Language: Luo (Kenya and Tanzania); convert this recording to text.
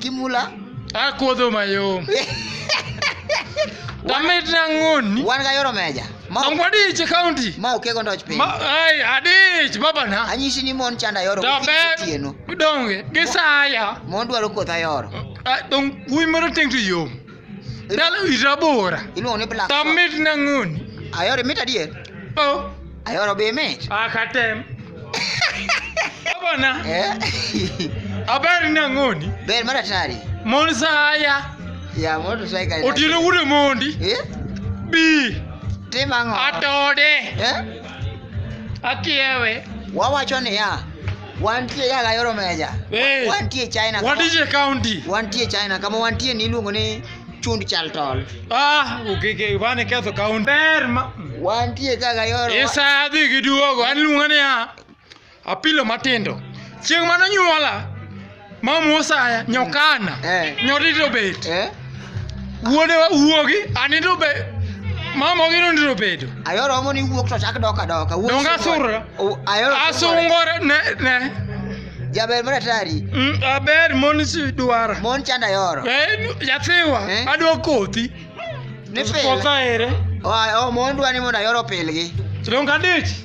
Kimula. Ah, kodho mayom. Damit na ng'oni. Wan ga yoro meja. Ma Ango adich e county. Ma oke go ndoch piny. Ma ai adich baba na. Anyisi ni mon chanda yoro kitieno. Donge gisaya. Mon dwaro kotha yoro. Dong wuy moro ting to yom. Ndalo itabora. Iluongo ni black. To mit na ng'uni. Ayore mit adier. Oh. Ayoro be mit. Akatem. Abana. Eh. Aber na ng'uni. Ber mar atari. Mon saya. Ya moto sai kai. Otino wude mondi. Eh? Bi. Tim ang'o? Atode. Eh? Akiewe. Wawacho niya. Wantie kaka yoro meja. Hey. Wantie China. What is your county? Wantie China. Kama wantie ni iluongo ni chund chal tol. Ah, ukike bane ketho county. Ber ma. Wantie kaka yoro. Isa adhi gi duogo. An luongo ni a apilo matindo. Chieng' mano nyuola. Ma Musa nyokana. Eh. Nyodi to bet. Eh. Wuode wa wuogi ani to be mama gi nondi to bedo. Ayoro omo ni wuok to chak doka doka. Wuok. Donga sura. Ayoro. Asungore ne ne. Jaber mara tari. Mm, aber mon si duara. Mon chanda yoro. Eh, yathiwa. Eh? Adwa kothi. Ne fe. Kotha ere. Oh, oh, mon dwani mondo ayoro pelgi. Donga dich.